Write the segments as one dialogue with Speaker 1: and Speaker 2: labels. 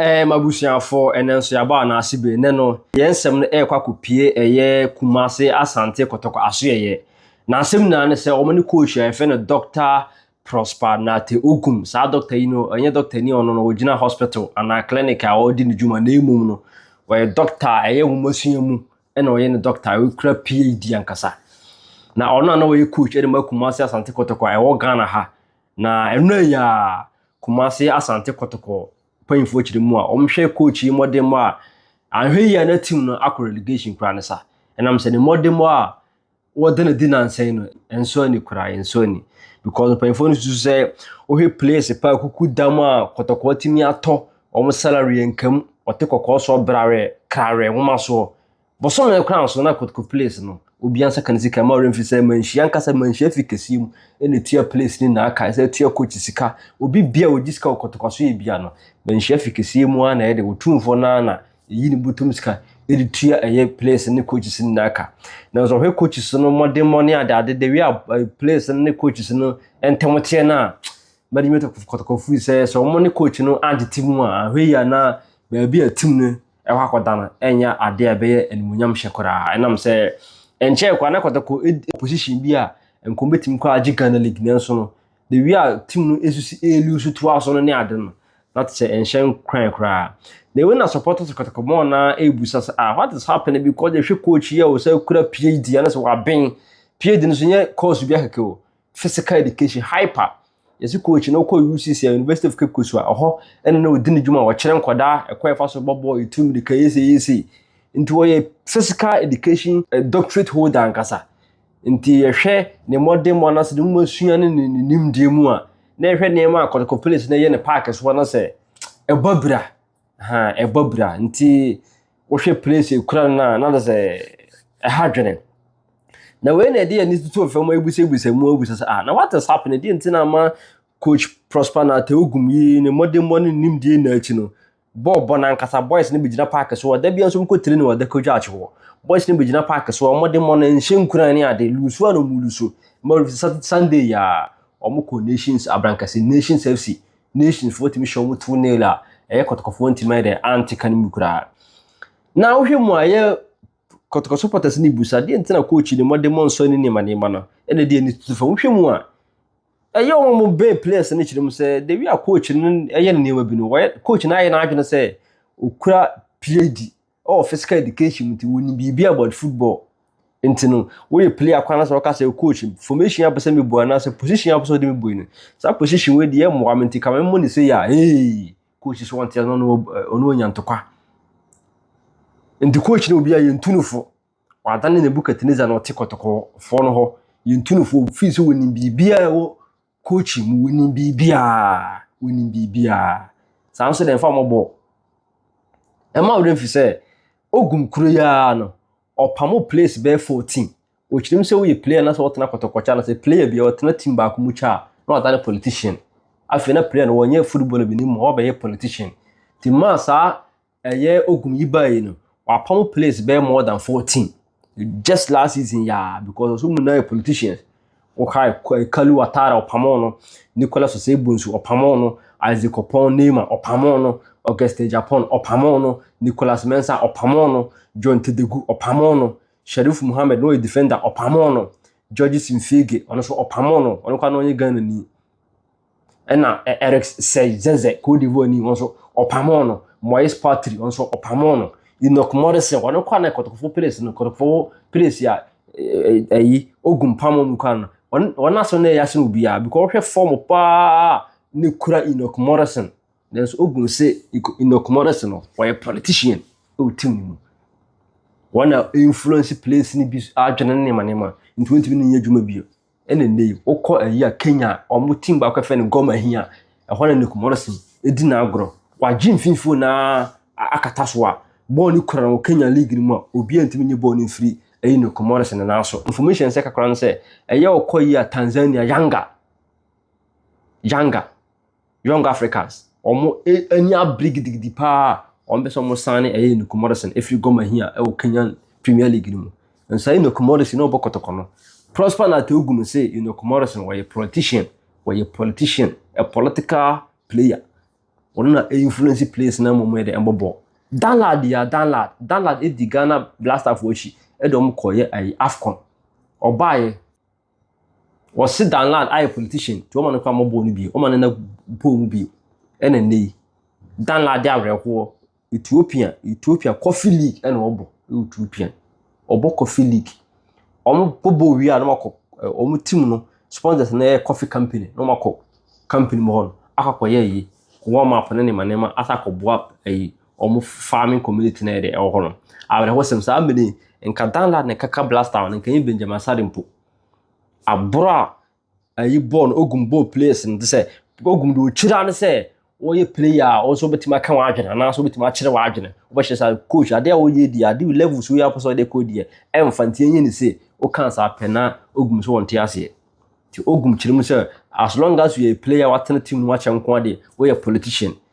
Speaker 1: Ɛɛ m'abusuafoɔ, ɛnnɛ nso yɛabɔ anaa ase bee. Nnɛ no, yɛn nsɛm no ɛrekɔ akɔpue ɛyɛ Kumase, Asante, Kɔtɔkɔ, Asoɛeɛ. N'asɛm nyinaa ne sɛ, wɔn ne coach a yɛfrɛ no Doctor Prosper Nartey Ogum. Saa doctor yi no, ɔnyɛ doctor ni a ɔno no ɔgyina hospital anaa clinic a ɔredi ne dwuma, na mmom no, ɔyɛ doctor a ɛyɛ nwomasua mu ɛna ɔyɛ ne doctor a ɔkura PhD ankasa. Na ɔno na na ɔyɛ coach ɛde ma Kumase, Asante, Kɔtɔkɔ a ɛwɔ Ghana ha Na ɛno a ya Kumasi Asante Kɔtɔkɔ mpanyinfoɔ kyerɛ mu a wɔn hwɛ coach yi mmɔdenmɔ a anhwɛ yie a na team no akɔ relegation koraa ne sa. Ɛnam sɛ ne mmɔdenmɔ a wɔde no di nansa yi no ɛnsɔ ani koraa ɛnsɔ ani because mpanyinfoɔ no susu sɛ wohwɛ players pa kuku dam a Kɔtɔkɔ atumi atɔ wɔn salary nka mu wɔte kɔkɔɔ soɔ brarɛ krarɛ nwoma soɔ Bosome kwan so na Kotoko Place no, obia nsa ka ne sika ma ɔremfi sɛ manhyia ankasa manhyia fi kɛseɛ mu na ɛtua place ne naa kae sɛ ɛtua coach sika obi bia ɔgye sika wɔ Kotoko so yɛ bia no manhyia fi kɛseɛ mu ara na ɛyɛ de ɔtumfoɔ no ara na ɛyi ne botom sika de tua ɛyɛ place ne coaches ne naa ka nanso ɔhwɛ coaches no mmɔdemmɔ ne ade ade de wia place no ne coaches no ntɛm teɛ no a management of Kotoko firi sɛ sɛ wɔn ne coach no antete mu a ahwɛ yi a na baabi a tim no ɛhɔ akɔda no ɛnyɛ adeɛ a ɛbɛyɛ animuonyam hyɛ koraa ɛnam sɛ ɛnkyɛɛ koraa na kɔtɔkɔ ɛdi position bi a nkɔm bɛtumi kɔ agye Ghana League nanso no the way a team no ɛsusi ɛlu so toa so no ne ade no na te sɛ ɛnhyɛ nkuran koraa na ɛwei na supporters kɔtɔkɔ mɔɔ na ɛbusa sɛ ah what is happening because yɛhwɛ coach yɛ o sɛ kura PhD anasɛ waben PhD no so nyɛ course bi akɛkɛ o physical education, hyper, yɛsi coach na ɔkɔ UCC, University of Cape Coast a ɔhɔ ɛna na ɔdi ne dwuma a ɔkyerɛ nkwadaa ɛkɔ ɛfa so bɔ bɔɔl, etu mirika, yɛsɛ yɛsɛ. Nti ɔyɛ physical education eh, doctorate holder ankasa. Nti yɛhwɛ ne mmɔdenmɔ anasɛ ne mu asua ne ne nimdeɛ mu a, na yɛhwɛ nneɛma a Kɔtɔkɔ Palace na ɛyɛ ne paake so anasɛ ɛbɔ abira Ha ɛbɔ bra nti wohwɛ place ekura no a na de sɛ ɛha dwene. Na wei na ɛde ani tutu fam abusabusa mu abusa sɛ ah na what is happening deɛ nti na ama coach Prosper na Teogum yi ne mmɔdemmɔ ne nimdeɛ na akyi no bɔɔl bɔ nankasa boys no bɛgyina paake so ɔda bia nso mokɔ tire ne ɔda kɔdwa akyewoɔ boys no bɛgyina paake so ɔmmɔdemmɔ no nhyɛ nkuran ne ade lusu a na ɔmu lusu ma Sunday yi a wɔkɔ Nations Abrankɛse Nations FC Nations foɔ tumi hyɛ wɔn to nail a ɛyɛ kɔtɔkɔfoɔ ntumi ayɛ dɛ ante ka no mu koraa na wohwɛ mu a yɛ kɔtɔkɔ supporters ne bu sa deɛ nti na coach ne mmɔde mmɔ nsɔ ne nneɛma nneɛma no ɛna deɛ ne tutu fam wohwɛ mu a ɛyɛ wɔn mo bɛn players no kyerɛ mu sɛ the way a coach no ɛyɛ ne nneɛma bi no wɔyɛ coach no ayɛ n'adwene sɛ okura play di Ɔwɔ physical education nti wɔnim biribi about football nti no woyɛ player kwan na sɛ wɔka sɛ coach formation a wopɛ sɛ mebu anaasɛ position a wopɛ sɛ wode me bu yi no saa position wei deɛ ɛmmoa me nti ka memmɔ ne sei a hey coach so ɔnte ase na ɔno ɔ- ɔno ɔnya ntokwa nti coach no obi a yɛntu no fo wadane nebukadnezar na ɔte kɔtɔkɔfoɔ no hɔ yɛntu no fo ɔfii sɛ wɔnim biribiaa ɛwɔ coaching mu wonim biribiara wonim biribiara saa nso deɛ ɛmfa mmɔbɔ ɛma wo dɛ mfi sɛ ogum kuro yi ara no ɔpamo players bɛyɛ 14 ɔkyerɛm sɛ woyɛ player na sɛ wɔtena kɔtɔkɔkyɛ na sɛ player bi a ɔtena team baako mu kyɛ a na ɔda ne politician afei na player no wɔnyɛ football bi ne mu ɔbɛyɛ politician nti maa saa Ɛyɛ Ogum yi bae no, wapam players bɛyɛ more than 14. Just last season yɛ a because ɔso mu na yɛ politicians. Wokae Kalu Watara ɔpamoo no, Nicolas Osei-Bonsu ɔpamoo no, Isaac Opong Neymar ɔpamoo no, August Agyapong ɔpamoo no, Nicolas Mensah ɔpamoo no, John Tedegu ɔpamoo no, Sharif Mohammed na ɔyɛ defender ɔpamoo no, Georges Mfege ɔno nso ɔpamoo no, ɔno koraa na ɔnyɛ Ghanani. ɛna Eric Sey Zeze Cote d'Ivoire ni wɔn nso ɔpamoo no Moise Patry wɔn nso ɔpamoo no Enoch Morrison wɔn kɔ na kɔtɔkɔfo place no kɔtɔkɔfo place a ɛyi ogun pamoo mu kwan no wɔn wɔn aso na ɛyɛ asen obiara because wɔhwɛ fam paa ne kura Enoch Morrison nanso ogun se Enoch Morrison no wɔyɛ politician ɛwɔ team no mu wɔn na influence place no bi adwene ne nneɛma nneɛma nti wɔntumi ne nyɛ adwuma bio Ɛna nnɛ yi wokɔ ayi a Kenya a wɔn team baako yɛfrɛ no Gor Mahia ɛhɔ na Nick Morrison edi n'agorɔ. Wagye mfimfini na akata so a bɔɔl no kura no wɔ Kenya league no mu a obiara ntumi nye bɔɔl no mfiri ɛyi Nick Morrison no nan so. Information sɛ kakra no sɛ ɛyɛ ɔkɔ yi a Tanzania Yanga Yanga Young Africans, wɔn ani abere gidigidi paa a wɔpɛ sɛ wɔn san ne ɛyɛ Nuku Morrison efiri Gor Mahia ɛwɔ Kenyan Premier League no mu. Nsa Nuku Morrison na ɔbɔ kɔtɔkɔ no. Prosper Nateogu no se Nuku Morrison wɔyɛ politician, wɔyɛ politician, a political player. Wɔn na influence players na wɔn yɛ de ɛbɔ bɔɔl. Danlad ya Danlad, Danlad edi Ghana Blasterfoɔ akyi ɛde wɔn kɔyɛ ɛyi AFCON. Ɔbaeɛ Wɔse Dan Lad ayɛ politician nti wɔma no kɔ amɔbɔɔ no bio, wɔma no na pole mu bio. Ɛna nnɛ yi, Dan Lad de awerɛhoɔ, Ethiopia, Ethiopia Coffee League ɛna ɔbɔ, ɛwɔ Ethiopia. Ɔbɔ Coffee League. Wɔn bɔ bɔɔl wie a na wɔakɔ, wɔn eh, team no, sponsors no yɛ coffee company, na wɔakɔ company mu hɔ no, akɔkɔyɛ yi, warm up ne nneɛma nneɛma, asa akɔboa ɛyi, eh, Wɔn farming community na yɛde ɛwɔ hɔ no. Awerɛhosɛm saa mmere yi nka Danlad na ɛkaka Blastown nka ɛyɛ Benjamin Asare mpo. Aboro a ayi bɔɔl no ogum bɔɔl players no te sɛ ogum de okyira ne sɛ wɔyɛ player a wɔn nso wɔbɛtumi aka wɔn adwene anaasɛ wɔbɛtumi akyerɛ wɔn adwene. Wɔbɛhyɛ saa coach adeɛ a wɔyɛ di adeɛ level so yɛ apɛ sɛ ɔde kɔ deɛ ɛmfa nti ɛnyɛ ne se woka saa pɛ na ogum so wɔn te aseɛ. Ti ogum kyerɛ mu sɛ as long as you are a player watena team no wakyɛ nko adeɛ wɔyɛ politician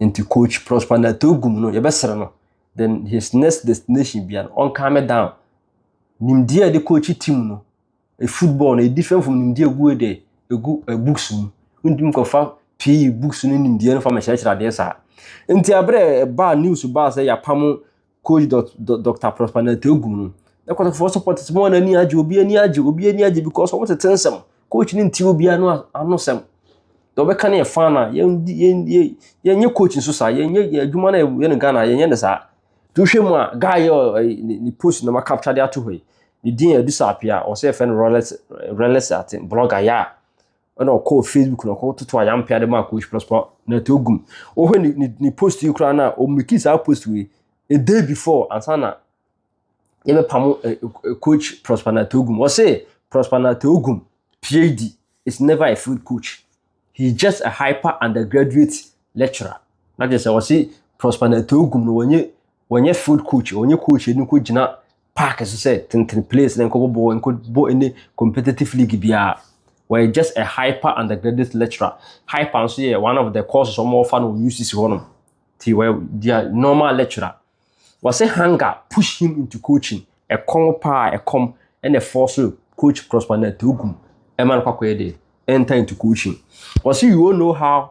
Speaker 1: Nti coach Prosper Natogum no yɛbɛsrɛ no then his next destination bia no ɔnkan me down. Nimdeɛ a yɛde coach team no e football no e different from nimdeɛ egu e de egu e books mu. Wontumi kɔfa PE books no nimdeɛ no fa mɛkyerɛkyerɛ adeɛ saa. Nti aberɛ ɛbaa news baa sɛ yɛapamo Coach dot dot Doctor Prosper Nante Ogum no. Na kɔtɔfoɔ supporters mu wɔn ani agye, obi ani agye, obi ani agye because wɔn tete nsɛm. Coach no nti obi ano ano sɛm. Deɛ ɔbɛka no yɛ fan na yɛn yɛn yɛn yɛn nyɛ coach nso saa, yɛn nyɛ yɛn adwuma na yɛn no Ghana yɛn nyɛ no saa. Tuhwɛ mu a guy yɛ ɔyɛ ne ne post na ma capture de ato hɔ yi. Ne din yɛ Adusa Apia, ɔsɛ yɛfrɛ no Rolex Rolex ate blogger ya. ɛna ɔkɔɔ facebook na ɔkɔ toto ayampea de maa coach prosper na ɛtɔ gum wohwɛ ne ne ne post yi koraa na ɔmmeki saa post yi a day before ansa na yɛbɛpamo eh, eh, coach prosper na ɛtɔ gum ɔse prosper na ɛtɔ gum phd is never a field coach he is just a hyper undergraduate lecturer na kyerɛ sɛ ɔse prosper na ɛtɔ gum no wɔnyɛ wɔnyɛ field coach wɔnyɛ coach ɛni kɔ gyina park so sɛ tenten place na nkɔbɔ bɔɔl nkɔbɔ any competitive league biara wɔyɛ just a hyper undergraduate lecturer hyper nso yɛ one of the courses wɔn wɔfa no wɔ UCC hɔ nom ti wɔyɛ dia normal lecturer wɔsɛ hunger push him into coaching ɛkɔm paa ɛkɔm ɛna ɛfɔ so coach correspondent ogum ɛma no kwakɔyɛ de enter into coaching wɔsɛ you all know how.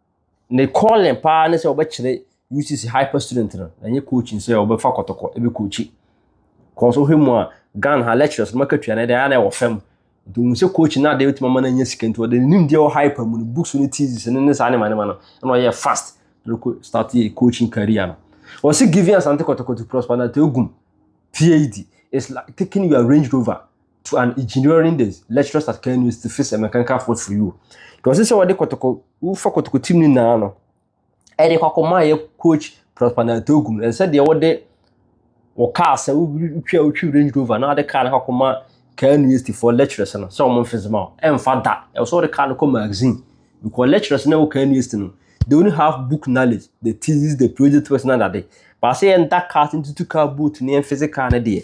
Speaker 1: Ne calling paa ne sɛ ɔbɛkyerɛ UCC hyper student no, na ɛnyɛ coaching sɛ ɔbɛfa kɔtɔkɔ ɛbɛ coachi. Kɔn so hwɛ mu a, Ghana ha lecturers no makatua no ɛde ayɛ na ɛwɔ fam. Nti ohun sɛ coaching no adeɛ bɛtumi ama no anya sika nti ɔde ne nimdeɛ wɔ hyper mu no books ne thesis ne ne saa nema nema no ɛna ɔyɛ fast na ɔkɔ start yɛ coaching career no. Ɔse giving Asante kɔtɔkɔ to prosper na to egum PhD is like taking your Range Rover to an engineering the lecturers at Kano to fix a mechanical fault for you. Nti ɔsɛ sɛ wɔde kɔtɔkɔ wofa kɔtɔkɔ tim no nyinaa no ɛde kɔ akɔma yɛ coach Praspanatogu no ɛsɛ deɛ wɔde wɔ kaa sɛ wotwa wotwi Range Rover na wɔde kaa no kɔ akɔma kaa university for lecturers no sɛ wɔn mfese ma ɛmfa da ɛwɔ sɛ wɔde kaa no kɔ magazine because lecturers na ɛwɔ kaa university no they only have book knowledge the thesis the project person na dade baasa yɛn da kaa ntutu kaa boot ne yɛn fese kaa no deɛ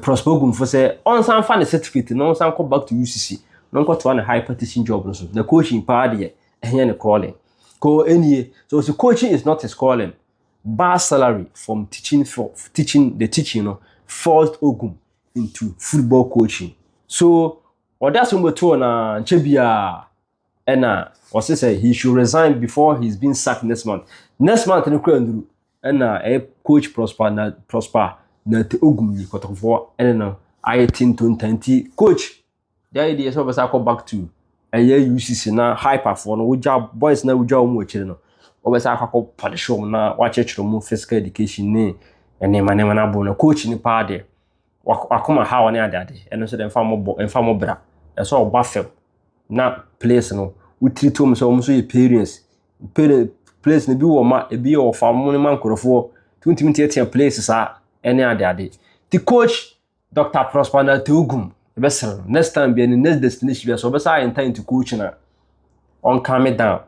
Speaker 1: Prosper Ogumfo sɛ ɔnsan fa ne certificate na ɔnsan kɔ back to UCC na ɔnkɔtoa ne hyper teaching job no so. Na coaching paa deɛ ɛnyɛ ne calling. Ko ɛnie, so ɔsi coaching is not his calling. Bar salary from teaching for teaching the teaching no forced Ogum into football coaching. So ɔda so mbɛtoo na nkyɛ biara Ɛna ɔse sɛ he should resign before he's being sacked next month. Next month no kura nduru. Ɛna ɛyɛ coach Prosper na Prosper na te ogum yi kɔtɔkɔfoɔ ɛne no ayɛ te ntonta nti coach gyae deɛ sɛ ɔbɛsa akɔ back to ɛyɛ UCC na hyperfoɔ no wogya boys na wogya wɔn akyire no ɔbɛsa akɔ akɔ punish wɔn na wakyerɛkyerɛ wɔn physical education ne nneɛma nneɛma no abo no coach no paa deɛ wakoma haw ne adeade ɛno nso de mfa mo bɔ mfa mo bra ɛsɛ ɔba fam na place no wotiri tom sɛ wɔn nso yɛ parents place no bi wɔ ma ebi yɛ ɔfa mo ne ma nkorɔfoɔ tuntun tiatia place saa ɛne adeade ti coach dr prosper na teogum ɛbɛsrɛ no next time bi ɛne next destination bi ɛsɛ ɔbɛsa ayɛ ntan ti coach na ɔnka me down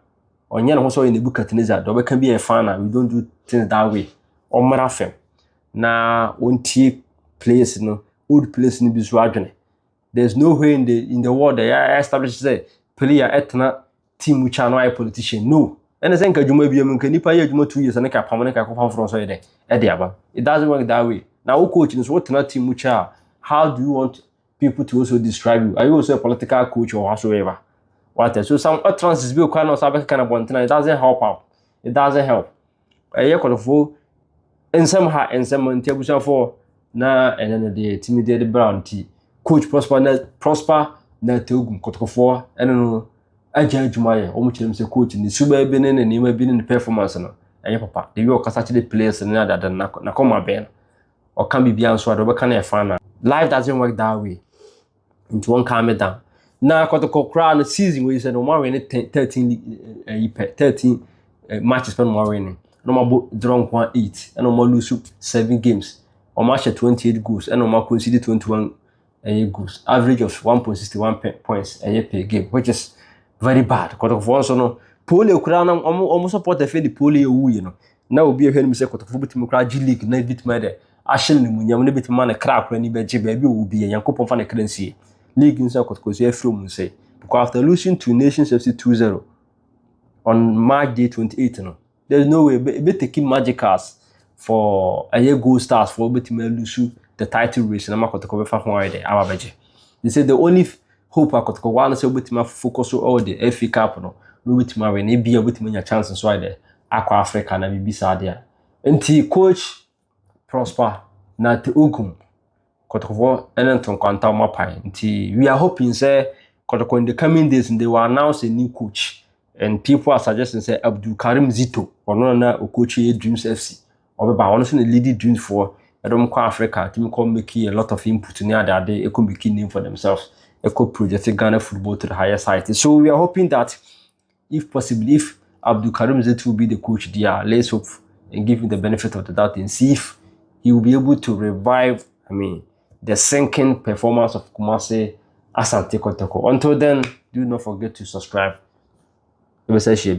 Speaker 1: ɔnyɛ ne ho sɛ ɔyɛ nebukadnezar deɛ ɔbɛka bi yɛ fana we don't do things that way ɔmmra fam na wɔntie place no old place no bi so adwene there's no way in the in the world ɛyɛ ayɛ establish sɛ player ɛtena team mu kya no ayɛ politician no ɛna sɛ nka adwuma bi mu nka nipa yɛ adwuma two years ɛna ka pam ne ka kɔfa foforɔ nso yɛ dɛ ɛde aba it doesn't work that way na wo coach nso wotena team mu kya how do you want people to also describe you are you also a political coach or whatsoever what so some utterances bi okwa na ɔsan bɛkeka na bɔntena it doesn't help out it doesn't help Ɛyɛ kɔtɔfo nsɛm ha nsɛm nti abusuafo na ɛnɛ no deɛ timi deɛ de brown ti coach prosper na prosper na togum kɔtɔkɔfoɔ ɛne no agya adwuma yɛ wɔn kyerɛ mu sɛ coach ne suba bi ne ne nneɛma bi ne ne performance no ɛyɛ papa de wi ɔkasa kyerɛ players ne adada na na kɔma bɛn ɔka biribi anso ade ɔbɛka na ɛfa na life doesn't work that way nti wɔn kan me dan na kɔtɔkɔ koraa no season wɔ yi sɛ na wɔn awɛn ne ten thirteen ɛyi pɛ thirteen matches pɛ na wɔn awɛn ne na wɔn abɔ draw nko a eight ɛna wɔn alose seven games wɔn ahyɛ twenty eight goals ɛna wɔn akɔnsidi twenty one ɛyɛ goals average of one point sixty one points ɛyɛ per game which is very bad kɔtɔkɔfoɔ nso no pole koraa na wɔn wɔn support ɛfɛ de pole yɛ wu yi no. na obi a ɛhwɛ anim sɛ kɔtɔfo betumi koraa agye leak na ebetumi ayɛ dɛ ahyɛ no n'emunyam na ebetumi ma ne kra koraa ani bɛgye baabi a ɔwɔ bi yɛ Nyankopɔn fa ne kra nsie leak nso a kɔtɔkɔsua afiri wɔn nsɛe because after losing to Nations FC 2-0 on March day 28 no there's no way ebe ebe taking magicals for ɛyɛ gold stars for betumi alusu the title race na ma kɔtɔkɔ bɛfa ho ayɛ dɛ aba bɛgye they say the only Hope akotoko w'ano sɛ wobɛtumi afufu kɔ so wɔ deɛ FA Cup no na wobɛtumi awe na ebia wobɛtumi anya chance nso ayɛ dɛ akɔ Africa na biribi saa deɛ a. Nti coach Prosper Nate Ogum Kotokofoɔ ne nto nkwanta wɔn apae nti we are hoping sɛ Kotoko in the coming days they will announce a new coach and people are suggesting sɛ Abdul Karim Zito ɔno na na okochi Dreams FC Ɔbɛba, ɔno nso na leadi dreams foɔ, ɛdɔm kɔ Africa, tumi kɔ making a lot of input ne ade ade, ɛkɔ making name for themselves, ɛkɔ project Ghana football to the highest height. So we are hoping that if possibly, if Abdul Karim Zeti will be the coach there, let's hope and give him the benefit of the doubt and see if he will be able to revive, I mean, the sinking performance of Kumasi Asante Kotoko. Until then, do not forget to subscribe. Let me say,